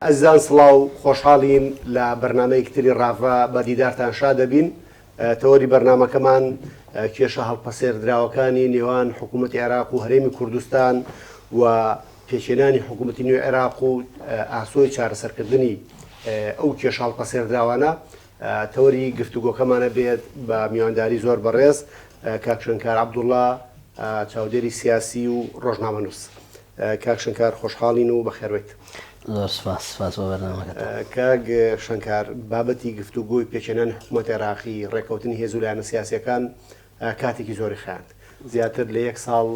ئەزیزان سڵاو خۆشحاڵین لە بەرنامەیەکی تری ڕاڤە بە دیدارتان شاد دەبین تەوەری بەرنامەکەمان کێشە هەڵپەسێردراوەکانی نێوان حکوومەتی عێراق و هەرێمی کوردستان و پێچێنانی حکوومەتی نوێ عێراق و ئاسۆی چارەسەرکردنی ئەو کێشە هەڵپەسێردراوانە تەوەری گفتوگۆکەمانە بێت بە میوانداری زۆر بەڕێز کاکشنکار عبدوڵا چاودێری سیاسی و ڕۆژنامەنووس کاک شنکار خۆشحاڵین و بەخێربێیت. زۆر سوپاس سوپاس بۆ بەرنامەکەتان. کاک شنکار بابەتی گفتوگۆی پێکهێنانی حکومەت عێراقی ڕێکەوتنی هێزو لایەنە سیاسیەکان کاتێکی زۆری خایاند زیاتر لە یەک ساڵ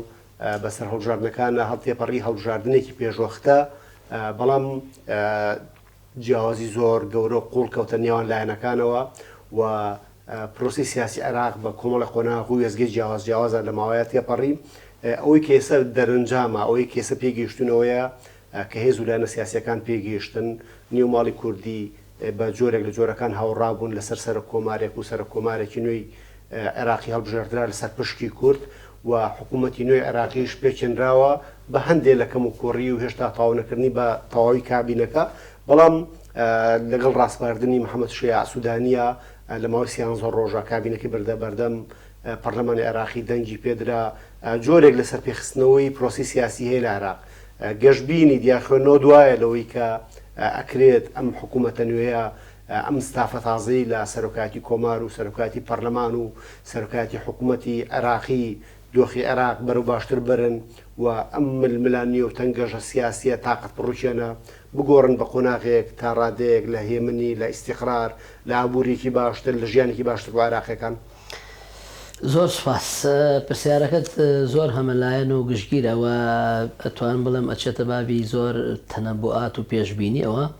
بەسەر هەڵبژاردنەکانا هەڵتێپەڕی هەڵبژاردنێکی پێشوەختە بەڵام جیاوازی زۆر گەورە و قووڵ کەوتە نێوان لایەنەکانەوە و پرۆسەی سیاسی عێراق بە کۆمەڵێک قۆناغ و وێستگەی جیاواز جیاوازە لە ماوەیە تێپەڕی. ئەوەی کە ئێستا دەرەنجامە، ئەوەی کە ئێستا پێی گەیشتوون ئەوەیە کە هێز و لایەنە سیاسییەکان پێی گەیشتن نێو ماڵی کوردی بە جۆرێک لە جۆرەکان هاوڕا بوون لەسەر سەرۆککۆمارێک و سەرۆککۆمارێکی نوێی عێراقی هەڵبژێردرا لەسەر پشکی کورد و حکوومەتی نوێی عێراقیش پێکهێنراوە بە هەندێ لە کەموکووڕی و هێشتا تەواونەکردنی بە تەواوی کابینەکە، بەڵام لەگەڵ ڕاسپاردنی محەمەد شیاع سوودانییە لە ماوەی سیانزە ڕۆژە کابینەکەی بردە بەردەم پەرلەمانی عێراقی دەنگی پێدرا، جۆرێک لە سەرپێخستنەوەی پرۆسەی سیاسی هەیە لە عێراق. گەشبینی دیارخوێندنەوە دوایە لەوەی کە ئەکرێت ئەم حکوومەتە نوێیە ئەم ستافە تازەی لە سەرۆکایەتی کۆمار و سەرۆکایەتی پەرلەمان و سەرۆکایەتی حکومەتی عێراقی دۆخی عێراق بەرەو باشتر بەرن و ئەم ململانێ و تەنگەژە سیاسیە تاقەت پڕوکێنە بگۆڕن بە قۆناغێک تا ڕادەیەک لە هێمنی، لە ئیستیقرار، لە ئابوریەکی باشتر، لە ژیانێکی باشتر بۆ عێراقیەکان. زۆر سوپاس. پرسیارەکەت زۆر هەمەلایەن و گشتگیرە و ئەتوانم بڵێم ئەچێتە بابی زۆر تەنەبوئات و پێشبینیەوە.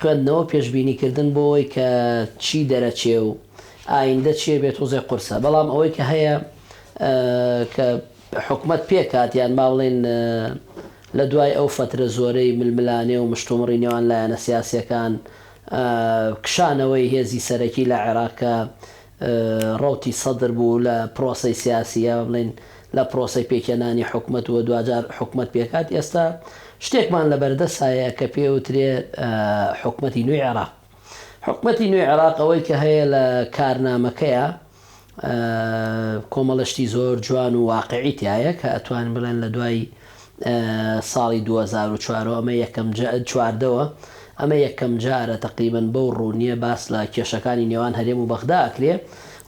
خوێندنەوەو پێشبینی کردن بۆوەی کە چی دەرەچێ و ئایندە چیە بێت تۆزێ قورسە بەڵام ئەوەی کە هەیە کە حکومەت پێکات یان با بڵێین لە دوای ئەو فەترە زۆرەی ململانێ و مشتومڕی نێوان لایەنە سیاسیەکان کشانەوەی هێزی سەرەکی لە عێراق کە ڕەوتی سەدر بوو لە پرۆسەی سیاسی یا بڵێین لە پرۆسەی پێکهێنانی حکومەت و دواجار حکومەت پێکهات، ئێستا شتێکمان لە بەردەسایە کە پێوترێ حکومەتی نوێی عێراق. حکومەتی نوێی عێراق ئەوەی کە هەیە لە کارنامەکەیا کۆمەڵە شتی زۆر جوان و واقعی تیایە کە ئەتوانین بڵێن لە دوای، ساڵی دوو هەزار و چوار و ئەمە یەکەم چواردەوە ئەمە یەکەم جارە تەقریبەن بەو ڕوونیە باس لە کێشەکانی نێوان هەرێم و بەغدا ئەکرێ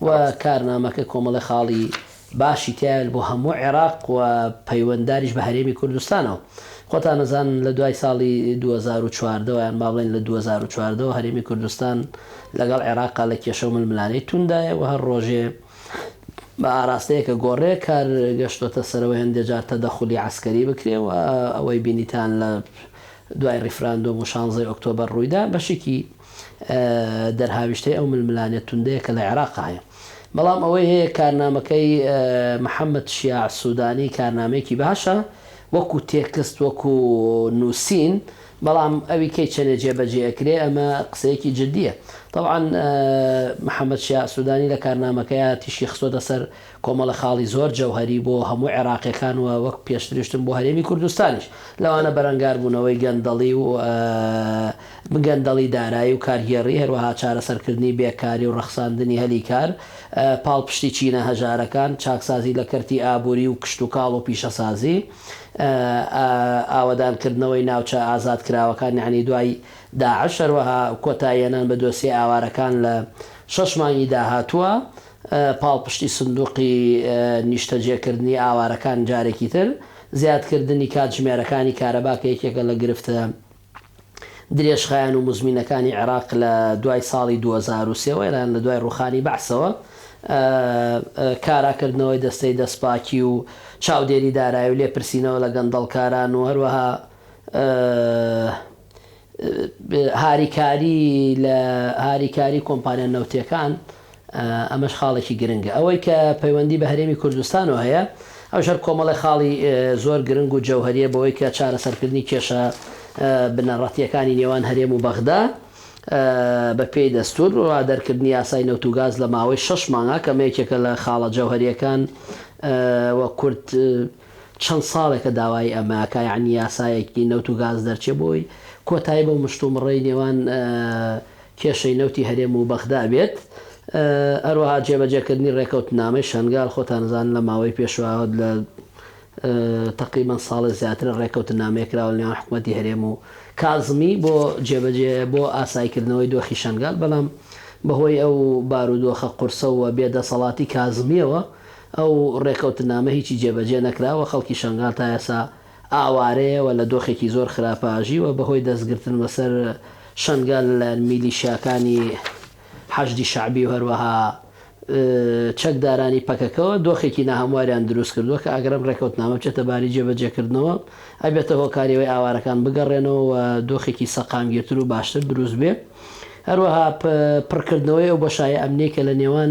و کارنامەکە کۆمەڵی خاڵی باشی تایل بۆ هەموو عێراق و پەیوەندداریش بە هەرێمی کوردستانەوە خۆتان نەزان لە دوای ساڵی 2014 یان با بڵێن لە 2014 هەرێمی کوردستان لەگەڵ عێراقا لە کێشە و ململانێی توندایە و هەر ڕۆژێ بە ئاراستەیە کە گۆڕێ کار گەشتۆتە سەرەوە هێندێ جار تەدەخولی عەسکەری بکرێ و ئەوەی بینیتان لە دوای ڕیفراندۆم و شانزەی ئۆکتۆبەر ڕوویدا بەشیکی دەرهاویشتەی ئەو ململانێ توندەیە کە لە عێراق هەیە بەڵام ئەوەی هەیە کارنامەکەی محەمەد شیاع سودانی کارنامەیەکی باشە وەکو تێکست وەکو نووسین بەڵام ئەوی کەی چەنێ جێ بەجێ ئەکرێ ئەمە قسەیەکی جدیە تەبعەن محمد شیاع سودانی لە کارنامەکەیا تیشکی خستۆتە سەر کۆمەڵە خاڵی زۆر جەوهەری بۆ هەموو عێراقیەکان وە وەک پێشتریشتم بۆ هەرێمی کوردستانیش لەوانە بەرەنگار بونەوەی گەندەڵی و گەندەڵی دارایی و کارگێڕی هەروەها چارەسەر کردنی بێ کاری و ڕەخساندنی هەلی کار پاڵپشتی چینە هەژارەکان چاکسازی لە کەرتی ئابوری و کشتوکاڵ و پیشەسازی ئاوەدانکردنەوەی ناوچە ئازادکراوەکان یەعنی دوای داعش، هەروەها کۆتاییهێنان بە دۆسیەی ئاوارەکان لە شەش مانگی داهاتووە، پاڵپشتی سندوقی نیشتەجێکردنی ئاوارەکان جارێکی تر، زیادکردنی کاتژمێرەکانی کارەبا کە یەکێکە لە گرفتە. درێژخایەن و مزمینەکانی عێراق لە دوای ساڵی دوو هەزار و سێ وە یان لە دوای ڕووخانی بەعسەوە کارا کردنەوەی دەستەی دەستپاکی و چاودێری دارایی و لێپرسینەوە لە گەندەڵکاران و هەروەها هاریکاری لە هاریکاری کۆمپانیا نەوتیەکان ئەمەش خاڵێکی گرنگە. ئەوەی کە پەیوەندی بە هەرێمی کوردستانەوە هەیە، ئەوش هەر کۆمەڵێ خاڵی زۆر گرنگ و جەوهەرییە بەوەی کە چارەسەرکردنی کێشە بنەڕەتییەکانی نێوان هەرێم و بەغدا بە پێی دەستوور و دەرکردنی یاسای نەوت و گاز لە ماوەی شەش مانگا کە ئەمە یەکێکە لە خاڵە جەوهەرییەکان و کورد چەند ساڵێکە داوای ئەمە ئەکا یانی یاسایەکی نەوت و گاز دەرچێ بۆی کۆتایی بەو مشتومڕەی نێوان کێشەی نەوتی هەرێم و بەغدا بێت، هەروەها جێبەجێکردنی ڕێکەوتنامەی شەنگال، خۆتان ئەزانن لە ماوەی پێشوە لە تەقریبەن ساڵێ زیاترە ڕێکەوتنامەیە کراوە لە نێوان حکومەتی هەرێم و کازمی بۆ جێبەجێ بۆ ئاسایکردنەوەی دۆخی شەنگال، بەڵام بەهۆی ئەو بارودۆخە قورسە و بێ دەسەڵاتی کازمیەوە ئەو ڕێکەوتنامە هیچی جێبەجێ نەکرا و خەڵکی شەنگال تا ئێسا ئاوارەیە و لە دۆخێکی زۆر خراپە ئاژیوە بەهۆی دەستگرتن بەسەر شەنگال لەلایەن میلیشیاکانی حەشدی شەعبی و هەروەها چەکدارانی پەکەکەوە دۆخێکی ناهەمواریان دروستکردووە کە ئەگەرم ڕێکەوتنامە بچێتە باری جێبەجێکردنەوە ئەبێتە هۆکاری ئەوەی ئاوارەکان بگەڕێنەوە و دۆخێکی سەقامگیرتر و باشتر دروستبێت هەروەها پڕکردنەوەی ئەو بۆشایە ئەمنیەی کە لە نێوان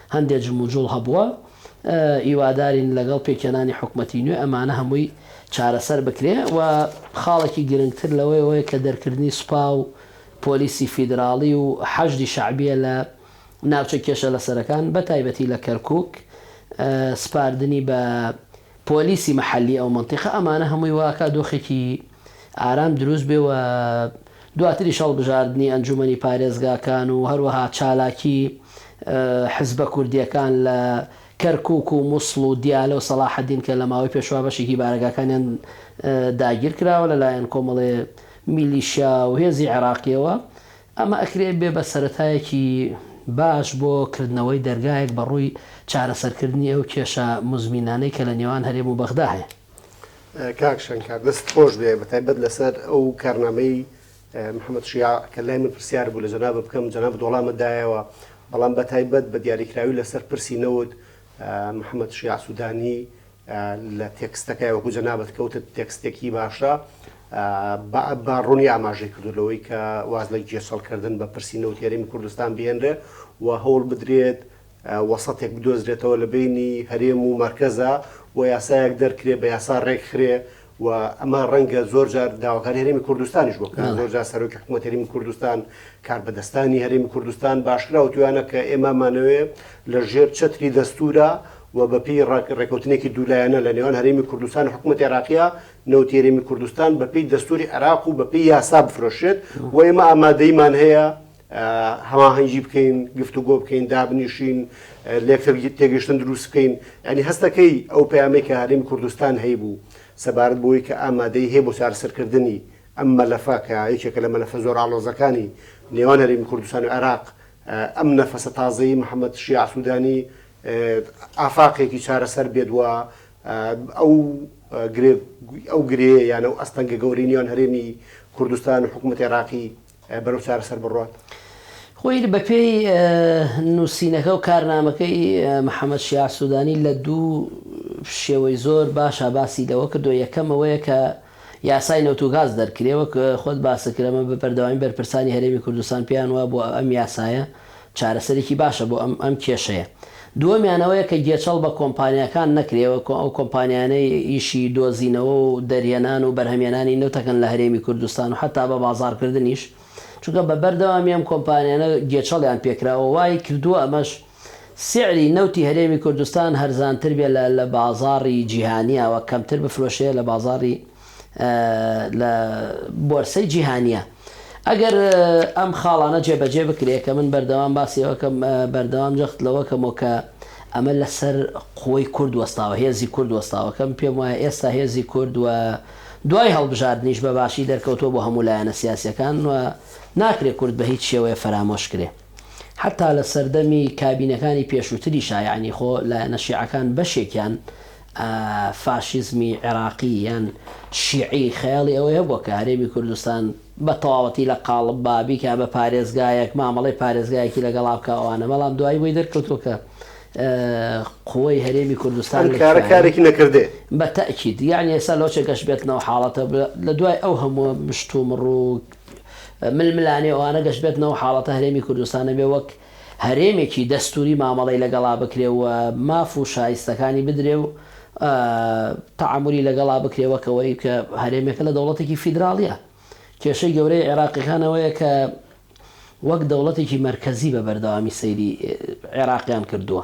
هەندێ جموجوڵ هەبووە هیوادارین لەگەڵ پێکهێنانی حکومەتی نوێ ئەمانە هەمووی چارەسەر بکرێ و خاڵێکی گرنگتر لەوەی ئەوەیە کە دەرکردنی سوپا و پۆلیسی فیدراڵی و حەشدی شەعبیە لە ناوچە کێشە لەسەرەکان بەتایبەتی لە کەرکوک سپاردنی بە پۆلیسی مەحەلی ئەو مەنتیقە ئەمانە هەمووی وا ئەکا دۆخێکی ئارام دروست بێ و دواتریش هەڵبژاردنی ئەنجوومەنی پارێزگاکان و هەروەها چالاکی حزبە کوردییەکان لە کەرکووک و موسڵ و دیالە و سەڵاحەدین کە لە ماوەی پێشوە بەشێکی بارەگاکانیان داگیر کراوە لە لایەن کۆمەڵێ میلیشیا و هێزی عێراقییەوە ئەمە ئەکرێ بێ بە سەرەتایەکی باش بۆ کردنەوەی دەرگایەک بە ڕووی چارەسەرکردنی ئەو کێشە موزمینانەی کە لە نێوان هەرێم و بەغدا هەیە. کاک شەنکار دەستت خۆش بێ بە تایبەت لەسەر ئەو کارنامەی محمد شیاع کە لای من پرسیار بوو لە جەنابت بکەم جەنابت وەڵامت دایەوە بەڵام بە تایبەت بە دیاریکراوی لەسەر پرسی نەوت محمد شیاع سودانی لە تێکستەکەی وەکو جەنابت کەوتت تێکستێکی باشە بە ڕوونی ئاماژەی کردو لەوەی کە واز لە گێچەڵکردن بە پرسی نەوتی هەرێمی کوردستان بهێنرێ و هەوڵ بدرێت وەسەتێک بدۆزرێتەوە لە بینی هەرێم و مەرکەزا و یاسایەک دەرکرێ بە یاسا ڕێکخرێ و ئەمە ڕەنگە زۆر جار داواکاری هەرێمی کوردستانیش بۆ بکەن زۆر جار سەرۆکی حکوومەت هەرێمی کوردستان کاربەدەستانی هەرێمی کوردستان باشکرا و توانە کە ئێمامانەوەێ لە ژێر چەتری دەستورە و بەپی ڕێکوتنێکی دوولایەنە لە نێوان هەرێمی کوردستان و حکوومەت عێراقیە نەوتی هەرێمی کوردستان بەپی دەستوری عێراق و بەپی یاسا بفرۆشێت و ئێمە ئامادەیمان هەیە هەماهەنگی بکەین، گفتوگۆ بکەین، دابنیشین، لێکتر تێگەیشتن دروست بکەین. یانی هەستەکەی ئەو پەیامەی کە هەرێمی کوردستان هەیبوو سەبارەت بەوەی کە ئامادەیی هەیە بۆ چارەسەرکردنی ئەم مەلەفە کە یەکێکە لە مەلەفە زۆر ئاڵۆزەکانی نێوان هەرێمی کوردستان و عێراق، ئەم نەفەسە تازەی محەمەد شیاع سوودانی ئافاقێکی چارەسەر بێت و ئەو گرێ ئەو گرێیە یان ئەو ئەستەنگە گەورەی نێوان هەرێمی کوردستان و حکوومەتی عێراقی بەرەو چارەسەر بڕۆن. خۆی بەپێی نووسینەکە و کارنامەکەی محەمەد شیاع سوودانی لە دوو شێوەی زۆر باشە باسی لەوە کردووە، یەکەم ئەوەیە کە یاسای نەوت و گاز دەرکرێ، وەک خۆت باست کرد ئەمە بە بەردەوامی بەرپرسانی هەرێمی کوردستان پێیان وابووە ئەم یاسایە چارەسەرێکی باشە بۆ ئەم ئەم کێشەیە. دووەمیان ئەوەیە کە گێچەڵ بە کۆمپانیاکان نەکرێ و ئەو کۆمپانیانەی ئیشی دۆزینەوە و دەرهێنان و بەرهەمێنانی نەوت ئەکەن لە هەرێمی کوردستان و حەتا بە بازاڕکردنیش چونکە بە بەردەوامی ئەم کۆمپانیانە گێچەڵیان پێکرا و وای کردووە ئەمەش سیعری نەوتی هەرێمی کوردستان هەرزانتر بێ لە لە بازاڕی جیهانیاوە کەمتر بفرۆشێ لە بازاڕی لە بۆرسەی جیهانییە. ئەگەر ئەم خاڵانە جێبەجێ بکرێت کە من بەردەوام باسی ئەوە ئەکەم، بەردەوام جەخت لەوە ئەکەمەوە کە ئەمە لەسەر قوەی کورد وەستاوە، هێزی کورد وەستاوە، کە من پێم وایە ئێستا هێزی کورد و دوای هەڵبژاردنیش بە باشی دەرکەوتووە بۆ هەموو لایەنە سیاسییەکان و ناکرێت کورد بە هیچ شێوەیە فەرامۆش کرێ. حەتتا لە سەردەمی کابینەکانی پێشووتریشا یەعنی خۆ لایەنە شیعەکان بەشێکیان فاشیزمی عێراقی یان شیعی خەیاڵی ئەوەی هەبووە کە هەرێمی کوردستان بە تەواوەتی لە قاڵب با، بیکا بە پارێزگایەک، مامەڵەی پارێزگایەکی لەگەڵا بکا ئەوانە، بەڵام دوایی بۆی دەرکەوتووە کە قووەی هەرێمی کوردستان لە کوێیە. ئەم کارە کارێکی نەکردەیە. بە تەئکید. یەعنی ئێستا لۆچێک گەش بێتنەوە حاڵەتە لە دوای ئەو هەمووە مشتومڕ و ململانێ و ئەوانە گەش بێتنەوە حاڵەتە هەرێمی کوردستان نەبێ وەک هەرێمێکی دەستوری مامەڵەی لەگەڵا بکرێ و ماف و شایستەکانی بدرێ و تەعامولی لەگەڵا بکرێ وەک ئەوەی کە هەرێمێکە لە دەوڵەتێکی فیدراڵیە. کێشەی گەورەی عێراقیەکان ئەوەیە کە وەک دەوڵەتێکی مەرکەزی بە بەردەوامی سەیری عێراقیان کردووە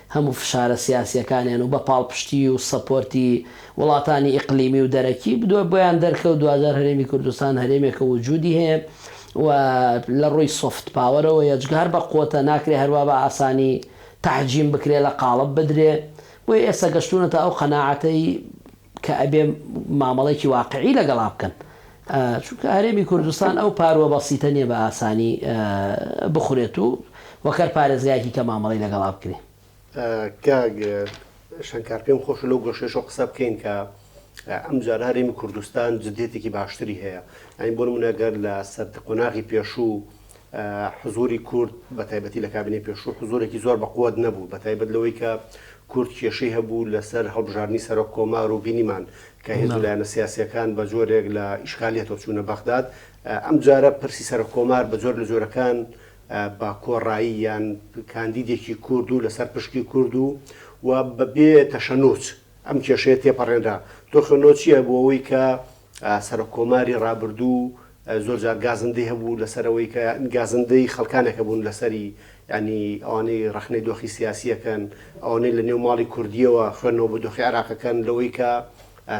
هەموو فشارە سیاسییەکانیان و بە پاڵپشتیی و سەپۆرتی وڵاتانی ئیقلیمی و دەرەکی بدوە بۆیان دەرکەوت دواجار هەرێمی کوردستان هەرێمێکە وجودی هەیە و لە ڕووی سۆفت پاوەرەوە یە جگە هەر بە قوتە ناکرێ هەروا بە ئاسانی تەحجیم بکرێ لە قاڵب بدرێ بۆیە ئێستا گەشتوونەتە ئەو قەناعەتەی کە ئەبێ مامەڵەیەکی واقعی لەگەڵا بکەن چونکە هەرێمی کوردستان ئەو پارووە بەسیتە نییە بە ئاسانی بخورێت و وەک هەر پارێزگایەکی کە مامەڵەی لەگەڵا بکرێ. کاک شەنکار پێم خۆشە لەو گۆشەیەشەوە قسە بکەین کە ئەمجارە هەرێمی کوردستان جدیەتێکی باشتری هەیە یانی بۆ نموونە گەر لە سەر قۆناغی پێشوو حزووری کورد بە تایبەتی لە کابینەی پێشوو حزوورێکی زۆر بە قوت نەبوو بە تایبەت لەوەی کە کورد کێشەی هەبوو لەسەر هەڵبژاردنی سەرۆک کۆمار و بینیمان کە هێز و لایەنە سیاسییەکان بە جۆرێک لە ئیشکالیەتەوە چوونە بەغداد ئەمجارە پرسی سەرۆک کۆمار بە جۆر لە جۆرەکان بە کۆڕایی یان کاندیدێکی کورد و لەسەر پشکی کورد و و بەبێ تەشەنوچ ئەم کێشەیە تێپەڕێنرا تۆ خوێندنەوە چییە بۆ ئەوەی کە سەرۆک کۆماری ڕابردوو زۆر جار گازندەی هەبوو لەسەر ئەوەی کە گازندەی خەڵکانێک هەبوون لەسەری یانی ئەوانەی ڕەخنەی دۆخی سیاسیەکەن ئەوانەی لە نێو ماڵی کوردیەوە خوێندنەوە بە دۆخی عراقەکەن لەوەی کە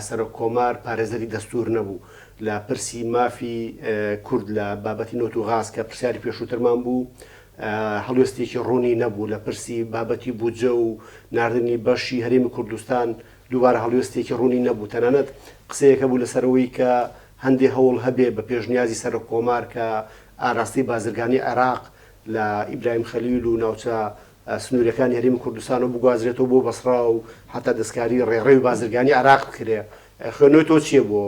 سەرۆک کۆمار پارێزەری دەستور نەبوو لە پرسی مافی کورد لە بابەتی نۆت و غاز کە پرسیاری پێشووترمان بوو هەڵوێستێکی ڕوونی نەبوو لە پرسی بابەتی بودجە و نردنی بەشی هەرێمی کوردستان دووبارە هەڵوێستێکی ڕوونی نەبوو، تەنانەت قسەیەک هەبوو لەسەر ئەوەی کە هەندێ هەوڵ هەبێ بە پێشنیازی سەرۆککۆمار کە ئاراستەی بازرگانی عێراق لە ئیبراهیم خەلیل و ناوچە سنوورییەکانی هەرێمی کوردستانەوە بگوازرێتەوە بۆ بەسڕا و هەتا دەستکاری ڕێڕەوی بازرگانی عێراق بکرێ. خوێندنەوەی تۆ چییە بۆ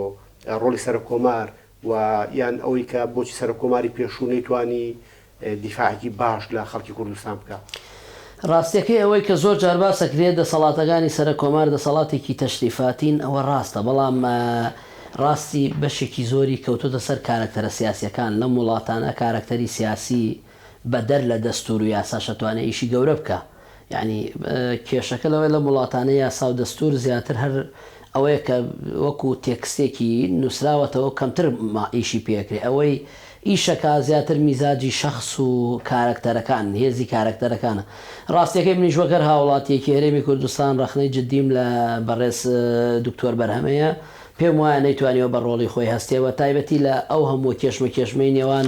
ڕۆڵی سەرۆککۆمار و یان ئەوەی کە بۆچی سەرۆک کۆماری پێشوو نەیتوانی دیفاعێکی باش لە خەڵکی کوردستان بکا؟ ڕاستیەکەی ئەوەی کە زۆر جار باسەکرێت دەسەڵاتەکانی سەرەک کۆمار دەسەڵاتێکی تەشریفاتین ئەوە ڕاستە بەڵام ڕاستی بەشێکی زۆری کەوتۆتە سەر کارەکتەرە سیاسیەکان لەم وڵاتانە کارەکتەری سیاسی بەدەر لە دەستوور و یاساش ئەتوانێ ئیشی گەورە بکا یانی کێشەکە لەوەیە لەم وڵاتانە یاسا و دەستوور زیاتر هەر ئەوەیە کە وەکوو تێکستێکی نووسراوەتەوە کەمتر ئیشی پێ ئەکرێ ئەوەی ئیش ئەکا زیاتر میزاجی شەخس و کارەکتەرەکان هێزی کارەکتەرەکانە ڕاستیەکەی منیش وەک هەر هاوڵاتیەکی هەرێمی کوردستان ڕەخنەی جدیم لە بەڕێز دکتۆر بەرهەمەیە پێم وایە نەیتوانیوە بە ڕۆڵی خۆی هەستێ بە تایبەتی لە ئەو هەمووە کێشمەکێشمەی نێوان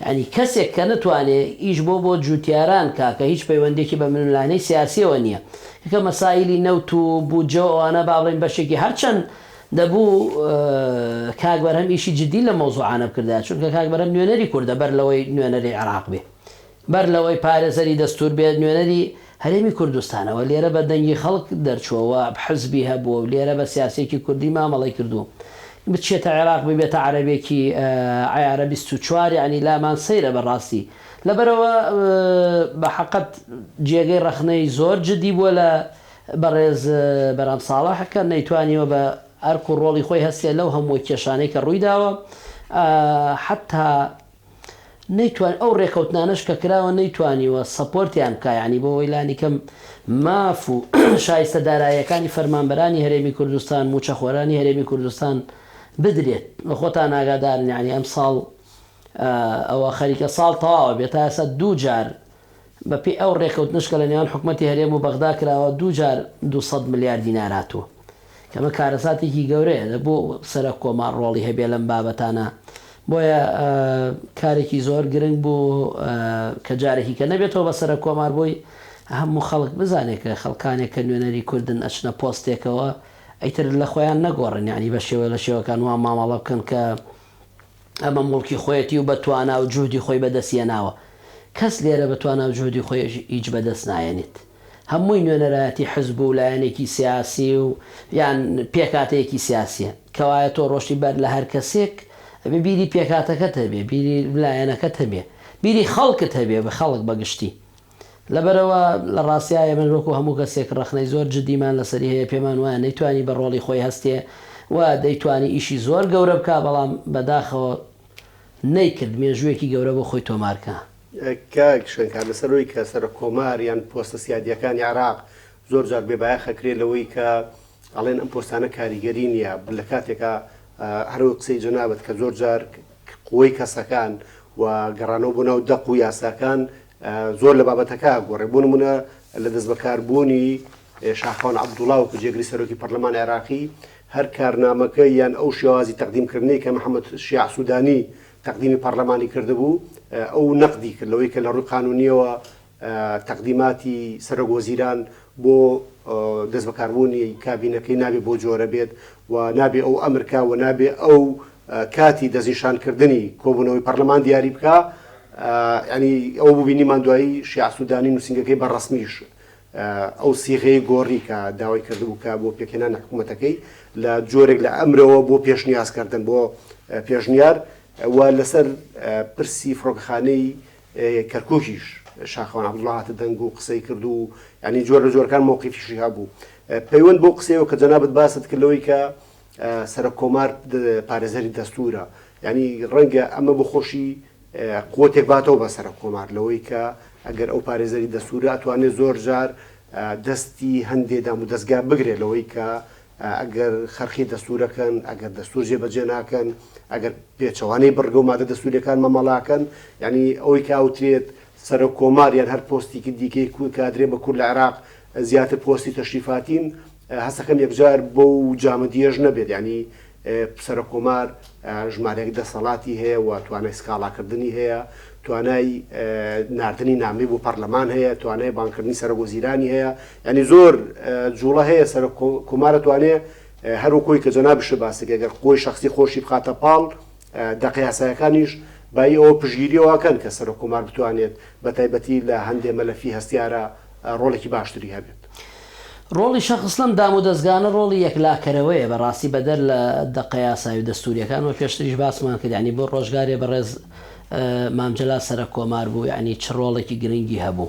یانی کەسێک کە نەتوانێ ئیش بۆ بۆ جوتیاران کا کە هیچ پەیوەندیەکی بە ململانێی سیاسیەوە نیە کە مەسایلی نەوت و بودجەو ئەوانە با بڵێین بەشێکی هەر چەند دەبوو کاک بەرهەم ئیشی جدی لەم مەوزوعانە بکردایە چونکە کاک بەرهەم نوێنەری کوردە بەر لەوەی نوێنەری عێراق بێ بەر لەوەی پارێزەری دەستوور بێت نوێنەری هەرێمی کوردستانە و لێرە بە دەنگی خەڵک دەرچووە و حزبی هەبووە و لێرە بە سیاسییەکی کوردی مامەڵەی کردوو بچێتە عێراق ببێتە عەرەبێکی عەیارە بیست و چوار یەعنی لامان سەیرە بە ڕاستی لەبەرئەوە بە حەقت جێگەی ڕەخنەی زۆر جدی بووە لە بەڕێز برام ساڵح کە نەیتوانیوە بە ئەرک و ڕۆڵی خۆی هەستێ لەو هەمووە کێشانەی کە ڕووی داوە حەتا نەیتوانی ئەو ڕێکەوتنانەش کە کراوە نەیتوانیوە سەپۆرتیان بکا یانی بۆ وەی لانی کەم ماف و شایستە دارایەکانی فەرمانبەرانی هەرێمی کوردستان موچەخۆرانی هەرێمی کوردستان بدرێت وە خۆتان ئاگادارن یانی ئەم ساڵ ئەوە خەریکە ساڵ تەواوە بێ تا ئێستا دوو جار بەپێی ئەو رێکەوتنەش کە لە نێوان حکومەتی هەرێم و بەغدا کراوە دوو جار دوو سەد ملیار دینار هاتووە کە ئەمە کارەساتێکی گەورەیە، دەبوو سەرۆک کۆمار رۆڵی هەبێت لەم بابەتانە، بۆیە کارێکی زۆر گرنگ بوو کە جارێکی کە نەبێتەوە بە سەرۆک کۆمار بۆی هەموو خەڵک بزانێت کە خەڵکانێک کە نوێنەری کوردن ئەچنە پۆستێکەوە ئیتر لە خۆیان نەگۆڕن یانی بە شێوە لە شێوەکان وا مامەڵە بکەن کە ئەمە موڵکی خۆیەتی و بە توانا و جوهدی خۆی بەدەست یەناوە. کەس لێرە بە توانا و جوهدی خۆی هیچ بەدەست نایەنێت. هەمووی نوێنەرایەتی حزب و لایەنێکی سیاسی و یان پێکاتەیەکی سیاسیە. کەوایە تۆ ڕۆشتی بەر لە هەر کەسێک ئەبێ بیری پێکاتەکەت هەبێ، بیری لایەنەکەت هەبێ، بیری خەڵکت هەبێ، خەڵک بە گشتی. لەبەرئەوە لە ڕاستیا ئێمەش وەکو هەموو کەسێک ڕەخنەی زۆر جدیمان لەسەری هەیە، پێمان وایە نەیتوانی بە ڕۆڵی خۆی هەستێ و دەیتوانی ئیشی زۆر گەورە بکا، بەڵام بەداخەوە نەیکرد، مێژوویەکی گەورە بۆ خۆی تۆمار کا. کاک شنکار لەسەر ئەوەی کە سەرۆککۆمار یان پۆستە سیادییەکانی عێراق زۆر جار بێ بایەخ ئەکرێ لەوەی کە ئەڵێن ئەم پۆستانە کاریگەری نییە، لە کاتێکا هەر وەک قسەی جەنابت کە زۆر جار قوەی کەسەکان و گەڕانەوە بۆ ناو دەق و یاساکان زۆر لە بابەتەکە ئەگۆڕێ، بۆ نموونە لە دەستبەکاربوونی شاخەوان عەبدوڵا وەکو جێگری سەرۆکی پەرلەمانی عێراقی، هەر کارنامەکە یان ئەو شێوازی تەقدیمکردنەی کە محەمەد شیاع سوودانی تەقدیمی پەرلەمانی کردبوو، ئەو نەقدی کرد لەوەی کە لە ڕووی قانوونییەوە تەقدیماتی سەرۆکوەزیران بۆ دەستبەکاربوونی کابینەکەی نابێ بەو جۆرە بێت و نابێ ئەو ئەمر کا و نابێ ئەو کاتی دەستنیشان کردنی کۆبوونەوەی پەڕلەمان دیاری بکا یانی ئەوە ببینیمان دوایی شیاع سودانی نووسینگەکەی بە ڕەسمیش ئەو سیغەیە گۆڕی کە داوای کردبوو کە بۆ پێکهێنان حکوومەتەکەی لە جۆرێک لە ئەمرەوە بۆ پێشنیازکردن بۆ پێشنیار و لەسەر پرسی فڕۆکەخانەی کەرکوکیش شاخەوان عەبدوڵا هاتە دەنگ و قسەی کرد و یانی جۆر لە جۆرەکان مەوقیفیشی هەبوو. پەیوەند بەو قسەیەوە کە جەنابت باست کرد لەوەی کە سەرۆک کۆمار پارێزەری دەستوورە، یانی ڕەنگە ئەمە بۆ خۆشی قوتێک باتەوە بە سەرۆک کۆمار لەوەی کە ئەگەر ئەو پارێزەری دەستوورە ئەتوانێ زۆر جار دەستی هەندێ دامودەزگا بگرێ لەوەی کە ئەگەر خەرخی دەستوورەکەن، ئەگەر دەستوور جێبەجێ ناکەن، ئەگەر پێچەوانەی بڕگە و مادە دەستوورییەکان مامەڵەکەن، یانی ئەوەی کە ئەوترێت سەرۆک کۆمار یان هەر پۆستێکی دیکەی کور کادرێ بە کور لە عێراق زیاتر پۆستی تەشریفاتین، هەستەکەم یەکجار بەو جامدییەش نەبێت، یانی سەرۆک کۆمار ژمارەیەک دەسەڵاتی هەیە و توانای سکاڵاکردنی هەیە، توانای ناردنی نامەی بۆ پەڕلەمان هەیە، توانای بانگکردنی سەرۆک وەزیرانی هەیە، یانی زۆر جوڵە هەیە سەرۆک کۆمار ئەتوانێ هەر وەک ئەوەی کە جەنابیشت باس کرد گەر خۆی شەخسی خۆشی بخاتە پاڵ دەقە یاسایەکانیش بایی ئەوە پشتگیری ئەوە کەن کە سەرۆک کۆمار بتوانێت بە تایبەتی لە هەندێ مەلەفی هەستیارە ڕۆڵێکی باشتری هەبێت. ڕۆڵی شەخس لەم دامودەزگانە ڕۆڵی یەکلاکەرەوەیە بە ڕاستی بەدەر لە دەقە یاسایی و دەستوریەکان وەک پێشتریش باسمان کرد یانی بۆ ڕۆژگارێ بەڕێز مام جەلال سەرەک کۆمار بوو یانی چ ڕۆڵێکی گرنگی هەبوو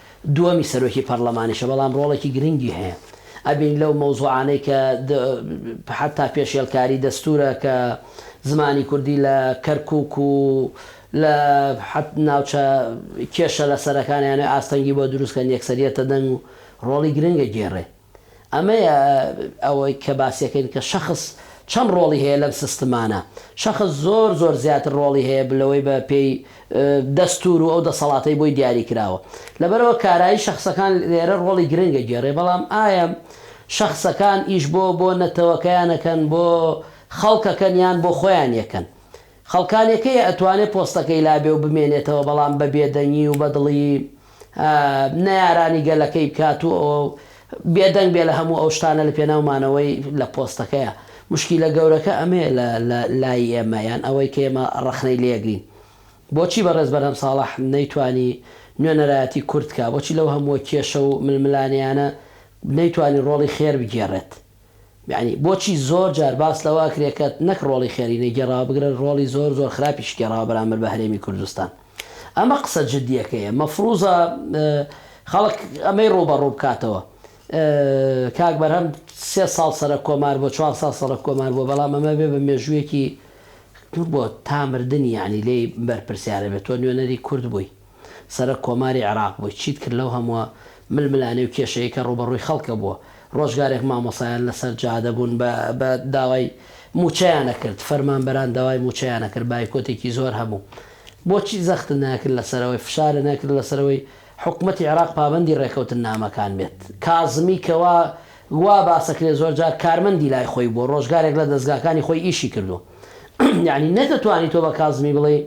دووەمی سەرۆکی پەڕلەمانیشە بەڵام ڕۆڵێکی گرنگی هەیە ئەبین لەو مەوزوعانەی کە حەتا پێشێلکاری دەستوورە کە زمانی کوردی لە کەرکووک و لە حەت ناوچە کێشە لەسەرەکانیانەوەی ئاستەنگی بۆ دروست کەن یەکسەریەتە دەنگ و ڕۆڵی گرنگە گێڕێ ئەمەیە ئەوەی کە باسیەکەین کە شەخس چەند ڕۆڵی هەیە لەم سستمانە. شەخس زۆر زۆر زیاتر ڕۆڵی هەیە بلەوەی بە پێی دەستور و ئەو دەسەڵاتەی بۆی دیاری کراوە. لەبەرئەوە کارایی شەخسەکان لێرە ڕۆڵی گرنگە گێڕێ بەڵام ئایا شەخسەکان ئیش بۆ بۆ نەتەوەکەیان ئەکەن بۆ خەڵک ئەکەن یان بۆ خۆیان یەکەن؟ خەڵکان یەکەیە ئەتوانێ پۆستەکەی لابێ و بمێنێتەوە بەڵام بە بێدەنگی و بەدڵی نەیارانی گەلەکەی بکات و بێدەنگ بێ لە هەموو ئەو شتانە لە پێناو مانەوەی لە پۆستەکەیا. موشکیلە گەورەکە ئەمەیە لە لە لای ئێمە یان ئەوەی کە ئێمە ڕەخنەی لێگرین. بۆچی بەڕێز بەرهەم ساڵح نەیتوانی نوێنەرایەتی کورد کا؟ بۆچی لەو هەمووە کێشە و ململانێیانە نەیتوانی ڕۆڵی خێر بگێڕێت؟ یەعنی بۆچی زۆر جار باس لەوە ئەکرێ کە نەک ڕۆڵی خێری نەگێڕاوە بگرە ڕۆڵی زۆر زۆر خراپیش گێڕاوە بەرامبەر بە هەرێمی کوردستان ئەمە قسە جدیەکەیە مەفروزە خەڵک ئەمەی ڕووبەڕوو بکاتەوە کاک بەرهەم سێ ساڵ سەرە کۆمار بۆ چوار ساڵ سەڕە کۆمار بۆ بەڵام ئەمە بێ بە مێژوویەکی بۆ تامردنی یعنی لێی بەرپرسیارە بێت تۆ نوێنەری کورد بووی سەرەک کۆماری عێراق بووی چیت کرد لەو هەمووە ململانێ و کێشەی کە ڕووبەڕووی خەڵکە بووە ڕۆژگارێک مامۆسایان لەسەر جادە بوون بە بە داوای مووچەیان ئەکرد فەرمانبەران داوای مووچەیان ئەکرد بایکۆتێکی زۆر هەبوو بۆچی زەختت نەکرد لەسەرەوەی فشارت نەکرد لەسەرەوەی حکومەتی عێراق پابەندی ڕێکەوتننامەکان بێت کازمی کە وا وا باسەکرێ زۆر جار کارمەندی لای خۆی بووە ڕۆژگارێک لە دەزگاکانی خۆی ئیشی کردووە یانی نەتەتوانی تۆ بە کازمی بڵێی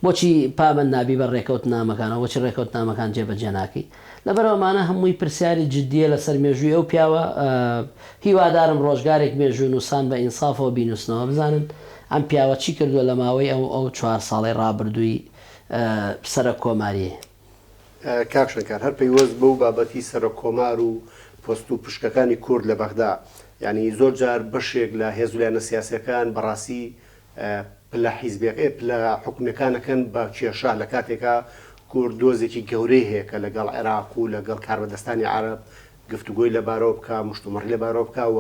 بۆچی پابەند نابی بە ڕێکەوتنامەکانەوە بۆچی ڕێکەوتنامەکان جێبەجێ ناکەی لەبەر ئەمانە هەمووی پرسیاری جدیە لەسەر مێژووی ئەو پیاوە هیوادارم ڕۆژگارێک مێژوو نووسان بە ئینسافەوە بینووسنەوە بزانن ئەم پیاوە چی کردووە لە ماوەی ئەو ئەو چوار ساڵەی ڕابردووی سەرۆک کۆماریی. کاک شەنکار هەر پەیوەست بەو بابەتی سەرۆک کۆمار و پۆست و پشکەکانی کورد لە بەغدا یانی زۆر جار بەشێک لە هێزو لایەنە سیاسیەکان بەڕاستی پلە حیزبیەکە ئێ پلە حکومیەکان ئەکەن بە کێشە لە کاتێکا کورد دۆزێکی گەورەی هەیە کە لەگەڵ عێراق و لەگەڵ کاربەدەستانی عەرەب گفتوگۆی لەبارەوە بکا مشتومڕی لەبارەوە بکا و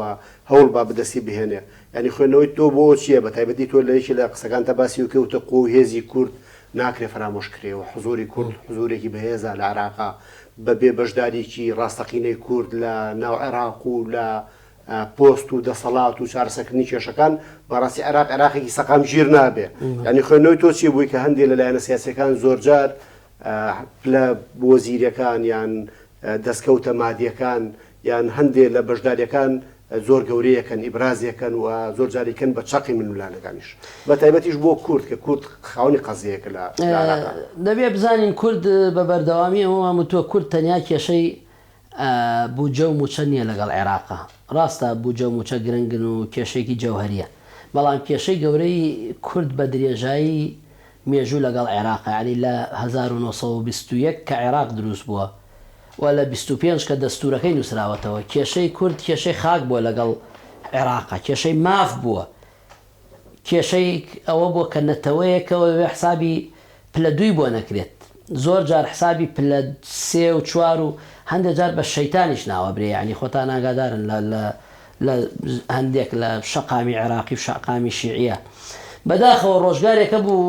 هەوڵ با بدەستی بهێنێ یانی خوێندنەوەی تۆ بۆ چیە بە تایبەتی تۆ لە یەکی لە قسەکانتا باسی ئەوەی کە وتە قوە و هێزی کورد ناکرێ فەرامۆش کرێ و حزوری کورد حزورێکی بەهێزە لە عێراقا بە بێ بەشداریی ڕاستەقینەی کورد لە ناو عێراق و لە پۆست و دەسەڵات و چارەسەکردنی کێشەکان بەڕاستی عێراق عێراقێکی سەقام ژیر نابێ ینی خوێنەوەی تۆ چی بووی کە هەندێک لە لایەنە سیاسەکان زۆرجار لە بۆزیرەکان یان دەستکەوتە مادیەکان یان هەندێک لە بەشداریەکان زۆر گەورەیەکەن ئیبرازیەکەن و زۆر جاریکەن بە چەقی من ملانەکانیش بە تایبەتیش بۆ کورد کە کورد خاونی قەزیەکە لە دەبێ بزانین کورد بە بەردەوامی ئەوەمان وتووە کورد تەنیا کێشەی بودجە و موچە نیە لەگەڵ عێراق. ڕاستە بودجە و موچە گرنگن و کێشەیەکی جەوهەریە. بەڵام کێشەی گەورەی کورد بە درێژایی مێژوو لەگەڵ عێراقە یانی لە هەزار و نۆ سەد و بیست و یەک کە عێراق دروست بووە و لە بیست و پێنج کە دەستورەکەی نوسراوەتەوە کێشەی کورد کێشەی خاک بووە لەگەڵ عێراق کێشەی ماف بووە کێشەی ئەوە بووە کە نەتەوەیەکەوە بێ حسابی پلە دووی بۆ نەکرێت، زۆر جار حسابی پلە سێ و چوار و هەندێ جار بە شەیتانیش ناوەبرێ یەعنی خۆتان ئاگادارن لە لە لە هەندێک لە شەقامی عێراقی و شەقامی شیعیە بەداخەوە ڕۆژگارێک هەبوو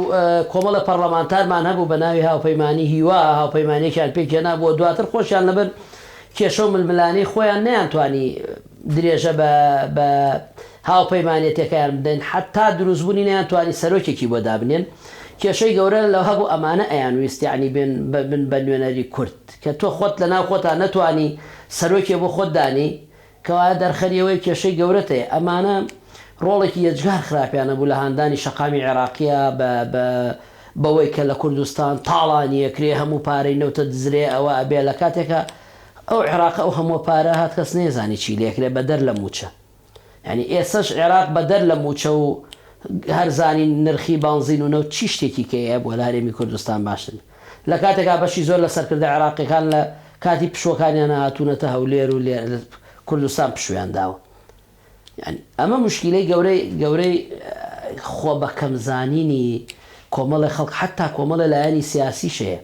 کۆمەڵە پەڕڵەمانتارمان هەبوو بە ناوی هاوپەیمانی هیوا هاوپەیمانێکیان پێک هێنابووە دواتر خۆشیان لەبەر کێشە و ململانێی خۆیان نەیانتوانی درێژە بە بە هاوپەیمانێتیەکەیان بدەن حەتا دروست بونی نەیان توانی سەرۆکێکی بۆ دابنێن کێشەی گەورە لەوە هەبوو ئەمانە ئەیان ویست یانی بێن بن بە نوێنەری کورد کە تۆ خۆت لە ناو خۆتا نەتوانی سەرۆکێ بۆ خۆت دانی کەوایە دەرخەری ئەوەی کێشەی گەورەت هەیە ئەمانە ڕۆڵێکی یەجگار خراپیان هەبوو لە هاندانی شەقامی عێراقیە بە بە بەوەی کە لە کوردستان تاڵانیەکرێ هەموو پارەی نەوتە دزرێ ئەوە ئەبێ لە کاتێکا ئەو عێراقە ئەو هەموە پارە هات کەس نەیزانی چی لێکرێ بەدەر لە موچە یانی ئێسەش عێراق بەدەر لە موچە و هەر زانین نرخی بانزین و نەوت چی شتێکی کە یە بۆ لە هەرێمی کوردستان باشتر بێ لە کاتێکا بەشی زۆر لە سەرکردە عێراقیەکان لە کاتی پشوەکانیانا هاتونەتە هەولێر و لێرە کوردستان پشویان داوە یانی ئەمە موشکیلەی گەورەی گەورەی خۆ بە کەم زانینی کۆمەڵێ خەڵک حتا کۆمەڵێ لایەنی سیاسی شەیە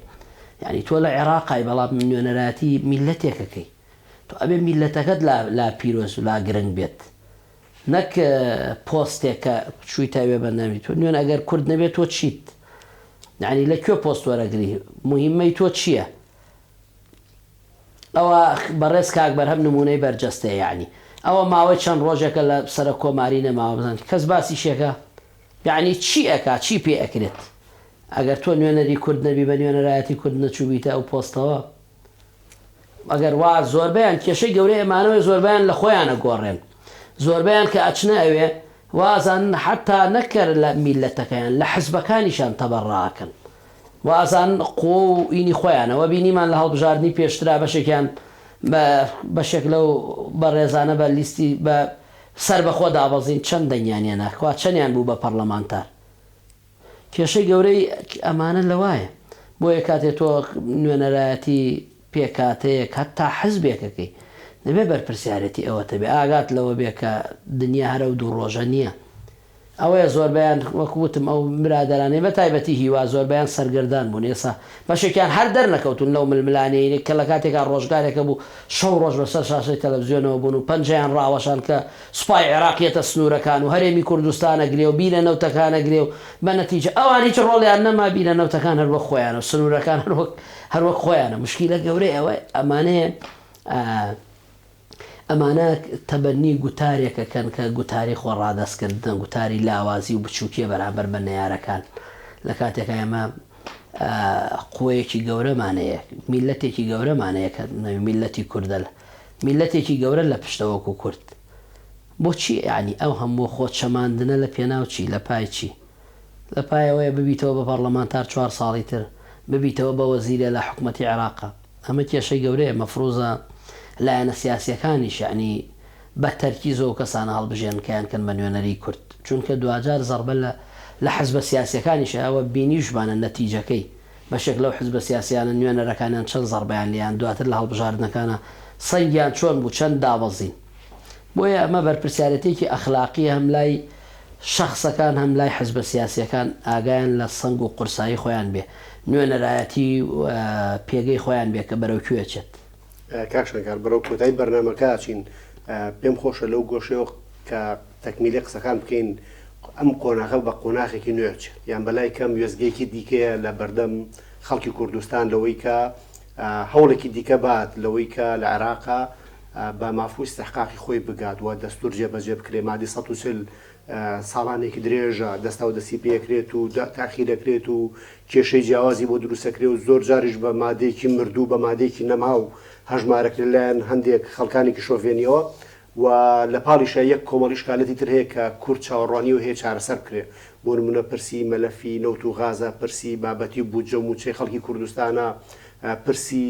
یعنی تۆ لە عێراقای بەڵام نوێنەراتی میلەتێکەکەی تۆ ئەبێ میلەتەکەت لا پیرۆز و لا گرنگ بێت نەک پۆستێک کە چووی تاوێ بەندامی تۆ نوێن ئەگەر کورد نەبێت تۆ چیت یعنی لە کوێ پۆست وەرەگری مهمەی تۆ چییە؟ ئەوە بەڕێز کاک بەرهەم نمونەی بەرجەستەیە یەعنی ئەوە ماوەی چەند ڕۆژێکە لە سەرۆک کۆماری نەماوە بزانم کەس باسی شێکە یەعنی چی ئەکا چی پێ ئەکرێت ئەگەر تۆ نوێنەری کورد نەبی بە نوێنەرایەتی کورد نەچوبیتە ئەو پۆستەوە ئەگەر وا زۆربیان کێشەی گەورەی ئەمانەوەی زۆربیان لە خۆیانە گۆڕێن زۆربیان کە ئەچنە ئەوێ وازان حتا نەکەر لە میلەتەکەیان لە حزبەکانیشان تەبەڕاکەن و ئازان قووە و ئینی خۆیانە وە بینیمان لە هەڵبژاردنی پێشترا بەشێکیان بە بەشێک لەو بەڕێزانە بە لیستی بە سەربەخۆ دابەزین چەند دەنگیان هێنا کوا چەندیان بوو بە پەڕلەمانتار کێشەی گەورەی ئەمانە لەوایە بۆیە کاتێ تۆ نوێنەرایەتی پێکهاتەیەک هەتا حزبێکەکەی دەبێ بەرپرسیارێتی ئەوەت هەبێ ئاگات لەوە بێ کە دنیا هەر ئەو دوو ڕۆژە نییە ئەوەیە زۆربەیان وەک وتم ئەو برادەرانەی بە تایبەتی هیوا زۆربەیان سەرگەردان بوون ئێسا بەشێکیان هەر دەرنەکەوتوون لەو ململانێیەی کە لە کاتێکا ڕۆژگارێک هەبوو شەو ڕۆژ بە سەر شاشەی تەلەفزیۆنەوە بوون و پەنجەیان ڕاوەشان کە سوپای عێراق یەتە سنوورەکان و هەرێمی کوردستان ئەگرێ و بیرە نەوتەکان ئەگرێ و بە نەتیجە ئەوان هیچ ڕۆڵیان نەما بیرە نەوتەکان هەر وەک خۆیانە و سنوورەکان هەر وەک هەر وەک خۆیانە مشکیلە گەورەی ئەوەی ئەمانەیە ئەمانە تەبەنی گوتارێکە کەن کە گوتاری خۆ ڕادەست کردنە گوتاری لاوازی و بچووکیە بەرامبەر بە نەیارەکان لە کاتێکە ئێمە قوەیەکی گەورەمانەیە میلەتێکی گەورەمانەیە کە نەوی میلەتی کوردە لە میلەتێکی گەورە لە پشتەوەک و کورد بۆچی ینی ئەو هەموو خۆ چەماندنە لە پێناوچی لە پایچی لە پای ئەوەیە ببیتەوە بە پەڕلەمانتار چوار ساڵی تر ببیتەوە بە وەزیرە لە حکومەتی عێراقا ئەمە کێشەی گەورەیە مەفروزە لایەنە سیاسیەکانیش یەعنی بە تەرکیز ئەو کەسانە هەڵبژێن کە یان کەن بە نوێنەری کورد چونکە دواجار زەڕبە لە لە حزبە سیاسیەکانیشە ئەوە بینیوشمانە نەتیجەکەی بەشێک لەو حزبە سیاسیانە نوێنەرەکانیان چەن زەڕبەیان لێیان دواتر لە هەڵبژاردنەکانا سەنگیان چۆن بوو چەن دابەزین بۆیە ئەمە بەرپرسیارێتیەکی ئەخلاقیە هەم لای شەخسەکان هەم لای حزبە سیاسیەکان ئاگایان لە سەنگ و قورسایی خۆیان بێ نوێنەرایەتی و پێگەی خۆیان بێ کە بەرەو کوێ ئەچێت. کاک شنگال بەرەو کۆتایی بەرنامەکە ئەچین پێم خۆشە لەو گۆشەیەوە کە تەکمیلی قسەکان بکەین ئەم قۆناغە بە قۆناغێکی نوێ ئەچێت یان بەلای کەم وێستگەیەکی دیکەیە لە بەردەم خەڵکی کوردستان لەوەی کە هەوڵێکی دیکە بات لەوەی کە لە عێراق بە مافو ئیستحقاقی خۆی بگات و دەستور جێبەجێ بکرێت، مادەی سەد و چل ساڵانێکی درێژە دەستاو دەستی پێکرێت و تاخیرەکرێت و کێشەی جیاوازی بۆ دروستەکرێ و زۆر جاریش بە مادەیەکی مردو بە مادەیەکی نەماو هەژمارەکرێت لەلایەن هەندێک خەڵکانێکی شۆڤێنیەوە و لە پاڵیشا یەک کۆمەڵی شکالەتی تر هەیە کە کورد چاوەڕوانیەوە هەیە چارەسەر بکرێ بۆ نمونە پرسی مەلەفی نەوت و غازە پرسی بابەتی و بودجە و موچەی خەڵکی کوردستانە پرسی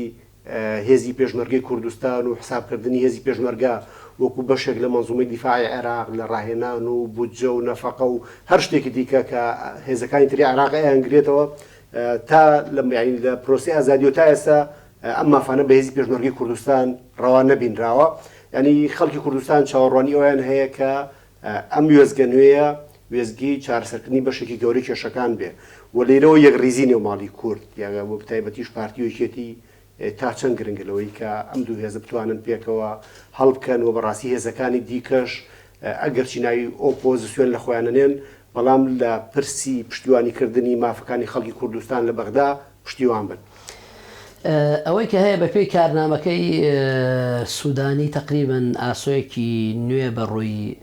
هێزی پێشمەرگەی کوردستان و حساب کردنی هێزی پێشمەرگە وەکو بەشێک لە مەنزومەی دیفاعی عێراق لە ڕاهێنان و بودجە و نەفەقە و هەر شتێکی دیکە کە هێزەکانی تری عێراق ئەیانگرێتەوە تا لە پرۆسەی ئازادیەوە تا ئێستا ئەم مافانە بە هێزی پێشمەرگەی کوردستان ڕەوا نەبینراوە، یانی خەڵکی کوردستان چاوەڕوانی ئەوەیان هەیە کە ئەم وێستگە نوێیە وێستگەی چارەسەرکردنی بەشێکی گەورەی کێشەکان بێ و لێرەوە یەکڕیزی نێوماڵی کورد یاگە بۆ بەتایبەتیش پارتی و یەکێتی تا چەند گرنگە لەوەی کە ئەم دوو هێزە بتوانن پێکەوە هەڵبکەن و بەڕاستی هێزەکانی دیکەش ئەگەرچی ناوی ئۆپۆزیسیۆن لە خۆیانەنێن بەڵام لە پرسی پشتیوانیکردنی مافەکانی خەڵکی کوردستان لە بەغدا پشتیوان بن. ئەوەی کە هەیە بەپێی کارنامەکەی سودانی تەقریبەن ئاسۆیەکی نوێ بە ڕووی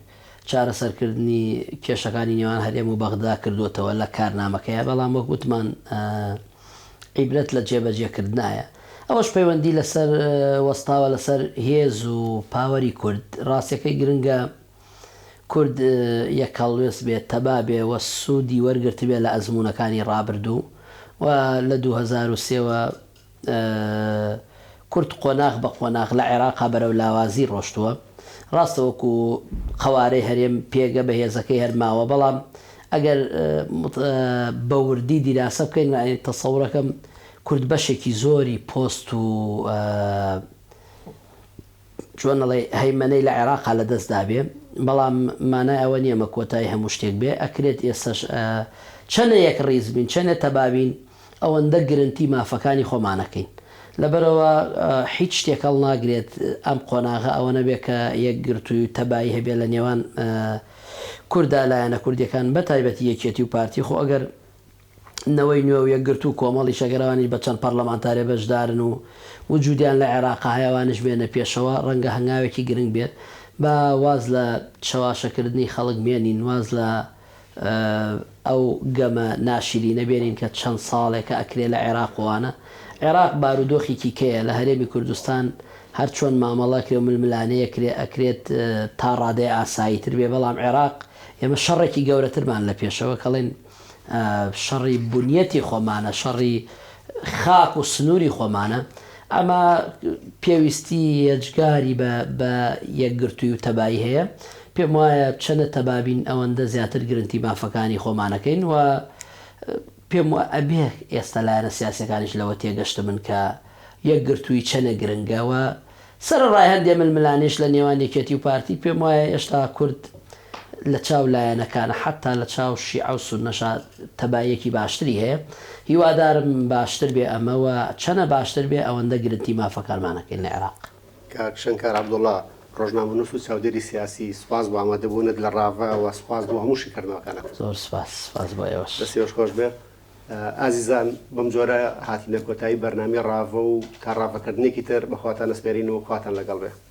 چارەسەرکردنی کێشەکانی نێوان هەرێم و بەغدا کردووەتەوە لە کارنامەکەیا بەڵام وەک وتمان عیبرەت لە جێبەجێکردنایە ئەوەش پەیوەندی لەسەر وەستاوە لەسەر هێز و پاوەری کورد ڕاستیەکەی گرنگە کورد یەکەڵوێست بێ، تەبا بێ و سوودی وەرگرتبێ لە ئەزموونەکانی ڕابردوو و لە دوو هەزار و سێ وە کورد قۆناغ بە قۆناغ لە عێراقا بەرەو لاوازی ڕۆشتووە. ڕاستە وەکو قەوارەی هەرێم پێگە بەهێزەکەی هەر ماوە بەڵام ئەگەر بە وردی دیراسە بکەین یانی تەسەورەکەم کورد بەشێکی زۆری پۆست و چۆن ئەڵێی هەیمەنەی لە عێراقا لە دەست دابێ بەڵام مانای ئەوە نیە مە کۆتای هەموو شتێک بێ ئەکرێت ئێستەش چەنێ یەک ڕیز بین چەنێ تەبابین ئەوەندە گرنتی مافەکانی خۆمانەکەین لەبەرەوە هیچ شتێک هەڵ ناگرێت ئەم قۆناغە ئەوە نەبێ کە یەک گرتووی و تەبایی هەبێ لە نێوان کوردا لایەنە کوردیەکان بە تایبەتی یەکێتی و پارتی خۆ ئەگەر نەوەی نوێ و یەکگرتوو و کۆمەڵی شەکرەوانیش بە چەند پەڕلەمانتارێ بەشدارن و وجودیان لە عێراقە هەیە ئەوانیش بێنە پێشەوە ڕەنگە هەنگاوێکی گرنگ بێت با واز لە چەواشەکردنی خەڵک بێنین واز لە ئەو گەمە ناشیرینە بێنین کە چەند ساڵێکە ئەکرێ لە عێراق وانە عێراق بارودۆخێکی کەیە لە هەرێمی کوردستان هەر چۆن مامەڵە ئەکرێ و ململانێ ئەکرێ ئەکرێت تا ڕادەیە ئاسایی تر بێ بەڵام عێراق ئێمە شەڕێکی گەورەترمان لە پێشەوە کەڵێن شەڕی بنیەتی خۆمانە، شەڕی خاک و سنووری خۆمانە. ئەمە پێویستی یەجگاری بە بە یەکگرتووی و تەبایی هەیە. پێم وایە چەنە تەبابین ئەوەندە زیاتر گرنتی مافەکانی خۆمانەکەین و پێم وە ئەبێ ئێستا لایەنە سیاسیەکانیش لەوە تێگەشتبن کە یەکگرتووی چەنە گرنگە و سەرەڕای هەندێ ململانێش لە نێوان یەکێتی و پارتی، پێم وایە هێشتا کورد لە چاو لایەنەکان، حەتتا لە چاو شیعە و سوننەشا تەباییەکی باشتری هەیە. هیوادارم باشتر بێ ئەمە و چەنە باشتر بێ ئەوەندە گرنتی مافەکانمان ئەکەین لە عێراق. کاک شنکار عەبدوڵا، ڕۆژنامەنووس و چاودێری سیاسی، سوپاس بۆ ئامادەبوونت لە ڕاڤە و سوپاس بۆ هەموو شیکردنەوەکانت. زۆر سوپاس، سوپاس بۆ ئێوەش. دەستیۆش خۆش بێ. ئازیزان بەم جۆرە هاتینە کۆتایی بەرنامەی ڕاڤە و تا ڕاڤەکردنێکی تر بەخواتان ئەسپێرین و خواتان لەگەڵ بێ.